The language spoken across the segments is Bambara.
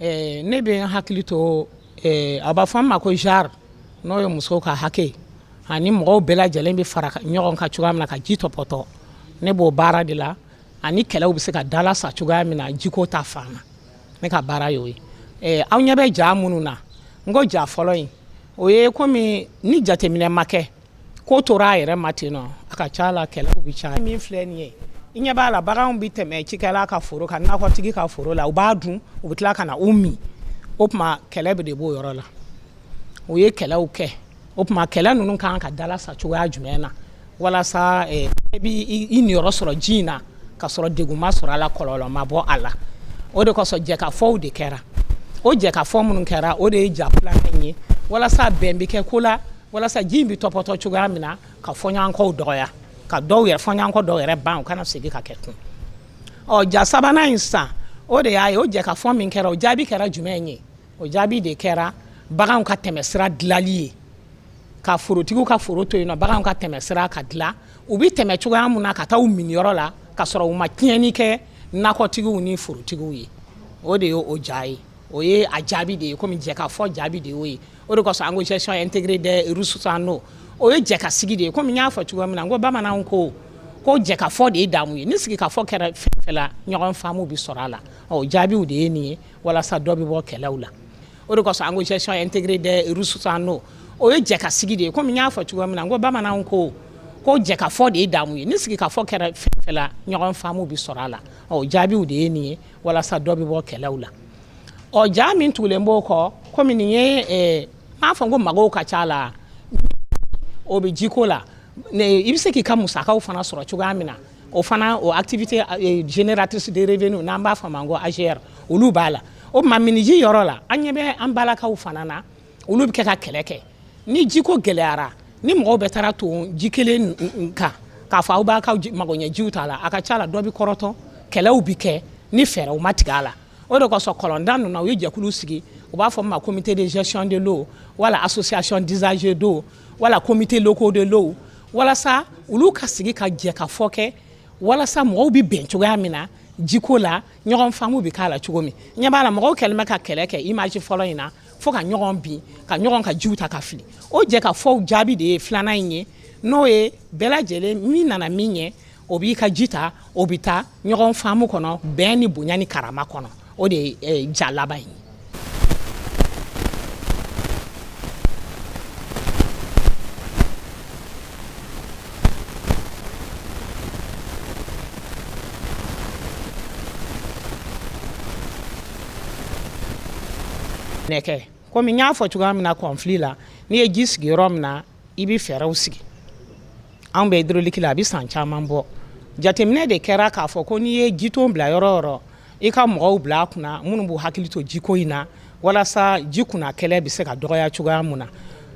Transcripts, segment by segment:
Ɛɛ ne bɛ n hakili to a b'a fɔ min ma ko genre n'o ye muso ka hakɛ ani mɔgɔw bɛɛ lajɛlen bɛ fara ɲɔgɔn kan cogoya min na ka ji tɔpɔtɔ ne b'o baara de la ani kɛlɛw bɛ se ka dalasa cogoya min na jiko ta fan na ne ka baara y'o ye aw ɲɛ bɛ ja minnu na n ko ja fɔlɔ in o ye kɔmi ni jateminɛ ma kɛ ko tora a yɛrɛ ma ten ɔ a ka ca la kɛlɛw bɛ ca min filɛ nin ye i ɲɛ b'a la baganw bɛ tɛmɛ cikɛla ka foro ka nakɔtigi ka foro la u b'a dun u bɛ tila ka na u min o tuma kɛlɛ bɛɛ de b'o yɔrɔ la u ye kɛlɛw kɛ o tuma kɛlɛ ninnu kan ka dalasa cogoya jumɛn na walasa eh, i b'i i niyɔrɔ sɔrɔ ji in na ka sɔrɔ degun ma sɔrɔ a la kɔlɔlɔ ma bɔ a la o de kosɔn jɛkafɔw de kɛra o jɛkafɔ minnu kɛra o de ye ja filanan in ye walasa bɛn bɛ kɛ ko la walasa ji in bɛ tɔpɔtɔ cogoya min na ka fɔɲɔgɔnkɔw dɔgɔya ka dɔw yɛrɛ fɔɲɔgɔnkɔ dɔw yɛrɛ ban u kana segin ka kɛ tun ɔ ja sabanan in sa o de y'a ye o jɛkafɔ min kɛra o jaabi kɛra jumɛn ye o jaabi de kɛra baganw ka tɛmɛsira dilali ye ka forotigiw ka foro to yen ɔ baganw ka tɛmɛsira ka dila u bɛ tɛmɛ cogoya min na ka taa u minniyɔrɔ la ka sɔrɔ u ma tiɲɛni kɛ nakɔtigiw ni forotigiw ye o de ye o ja ye o ye a jaabi de ye komi jɛkafɔ jaabi de y'o ye o de kosɔn an ko gestion intégrée des ressources en eau o ye jɛkasigi de ye komi n y'a fɔ cogoya min na n ko bamananw ko ko jɛkafɔ de ye damu ye ni sigikafɔ kɛra fɛn fɛn la ɲɔgɔn faamu bɛ sɔrɔ a la ɔ jaabiw de ye nin ye walasa dɔ bɛ bɔ kɛlɛw la o de kosɔn an ko gestion intégrée des ressources en eau o ye jɛkasigi de ye komi n y'a fɔ cogoya min na n ko bamananw ko ko jɛkafɔ de ye damu ye ni sigikafɔ kɛra fɛn fɛn la ɲɔgɔn faamu bɛ sɔrɔ a la ɔ jaabiw de ye nin ye walasa dɔ bɛ bɔ kɛlɛw la ɔ ja min tugulen b'o kɔ kɔmi nin ye eh, m'a fɔ ko magow ka ca la o bɛ jiko la i bɛ se k'i ka musakaw fana sɔrɔ cogoya min na o fana o activité eh, génératrice de revenu n'an b'a fɔ a ma ko AGR olu b'a la o tuma minniji yɔrɔ la an ɲɛ bɛ an balakaw fana na olu bɛ kɛ ka kɛlɛ kɛ ni jiko gɛlɛyara ni mɔgɔw bɛɛ taara ton ji kelen kan k'a fɔ aw b'a ka magoɲɛ jiw t'a la a ka ca la dɔ bɛ kɔrɔtɔ kɛlɛw bɛ kɛ ni fɛɛrɛw ma tigɛ a la o de kosɔn kɔlɔnda ninnu u ye jɛkulu sigi u b'a fɔ a ma comité de gestion de l'eau wala association d'usagers d'eau wala comités locaux de l'eau walasa olu ka sigi ka jɛkafɔ kɛ walasa mɔgɔw bɛ bɛn cogoya min na jiko la ɲɔgɔn faamu bɛ k'a la cogo min i ɲɛ b'a la mɔgɔw kɛlen bɛ ka kɛlɛ kɛ image fɔlɔ in na fo ka ɲɔgɔn bin ka ɲɔgɔn ka jiw ta ka fili o jɛkafɔw jaabi de ye filanan in ye n'o ye bɛɛ lajɛlen min nana min ɲɛ o b'i ka ji ta o bɛ taa ɲɔgɔn faamu kɔnɔ bɛn ni bonya ni karama kɔnɔ o de ye eh, ja laban ye Nɛkɛ kɔmi y'a fɔ cogoya min na conflit la n'i ye ji sigi yɔrɔ min na i bɛ fɛɛrɛw sigi anw bɛ hydraulique la a bɛ san caman bɔ jateminɛ de kɛra k'a fɔ ko n'i ye ji ton bila yɔrɔ yɔrɔ i ka mɔgɔw bila a kunna minnu b'u hakili to jiko in na walasa ji kunna kɛlɛ bɛ se ka dɔgɔya cogoya min na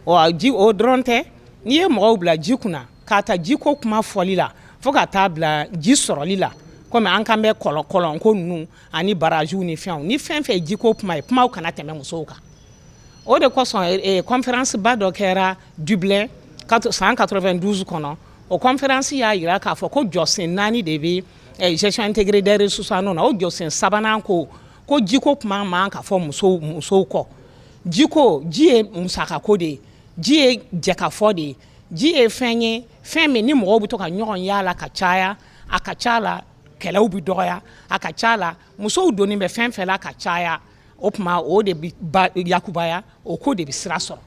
o dɔrɔn tɛ n'i ye mɔgɔw bila ji kunna K'a ta ji ko kuma fɔli la fo ka taa bila ji sɔrɔli la comme an kan bɛ kɔlɔn kɔlɔn ko ninnu ani barrage ni fɛnw ni fɛn fɛn ye ji ko kuma ye kumaw kana tɛmɛ musow kan o de kosɔn eh, eh, conférence ba dɔ kɛra Dublin san 92 kɔnɔ o conférence y'a jira k'a fɔ ko jɔsen naani de bɛ eh, gestion intégrée des ressources en eau na o jɔsen sabanan ko ko jiko kuma man ka fɔ musow musow kɔ jiko ji ye musakako de ye ji ye jɛkafɔ de ye ji ye fɛn ye fɛn min ni mɔgɔw bɛ to ka ɲɔgɔn y'a la ka caya a ka ca la kɛlɛw bɛ dɔgɔya a ka ca la musow donnen bɛ fɛn o fɛn na ka caya o tuma o de yakubaya o ko de bɛ sira sɔrɔ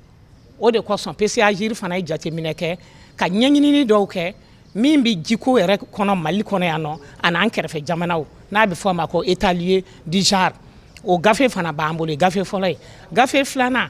o de kosɔn PCA-GIRE fana ye jateminɛ kɛ ka ɲɛɲini dɔw kɛ min bɛ jiko yɛrɛ kɔnɔ Mali kɔnɔ yan nɔ ani an kɛrɛfɛ jamanaw n'a bɛ fɔ a ma ko état des lieux du genre o gafe fana b'an bolo gafe fɔlɔ ye gafe filanan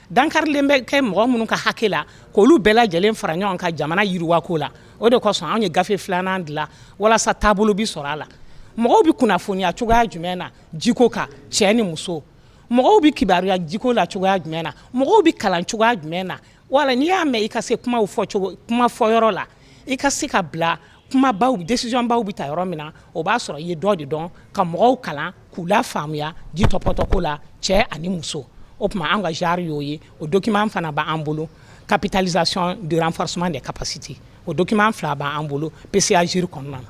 Dankarili bɛ kɛ mɔgɔ minnu ka hakɛ la k'olu bɛɛ lajɛlen fara ɲɔgɔn kan jamana yiriwako la o de kosɔn anw ye gafe filanan dilan walasa taabolo bɛ sɔrɔ a la mɔgɔw bɛ kunnafoniya cogoya jumɛn na jiko kan cɛ ni muso mɔgɔw bɛ kibaruya jiko la cogoya jumɛn na mɔgɔw bɛ kalan cogoya jumɛn na wala n'i y'a mɛn i ka se kuma fɔ kuma fɔ yɔrɔ la i ka se ka bila kuma baw décision baw bɛ ta yɔrɔ min na o b'a sɔrɔ i ye dɔ de dɔn ka mɔgɔw kalan k'u la faamuya ji tɔpɔtɔko la cɛ ani muso o tuma an ka genre y'o ye o document fana b'an bolo capitalisation de renforcement des capacités o document fila b'an bolo PCA-GIRE kɔnɔna na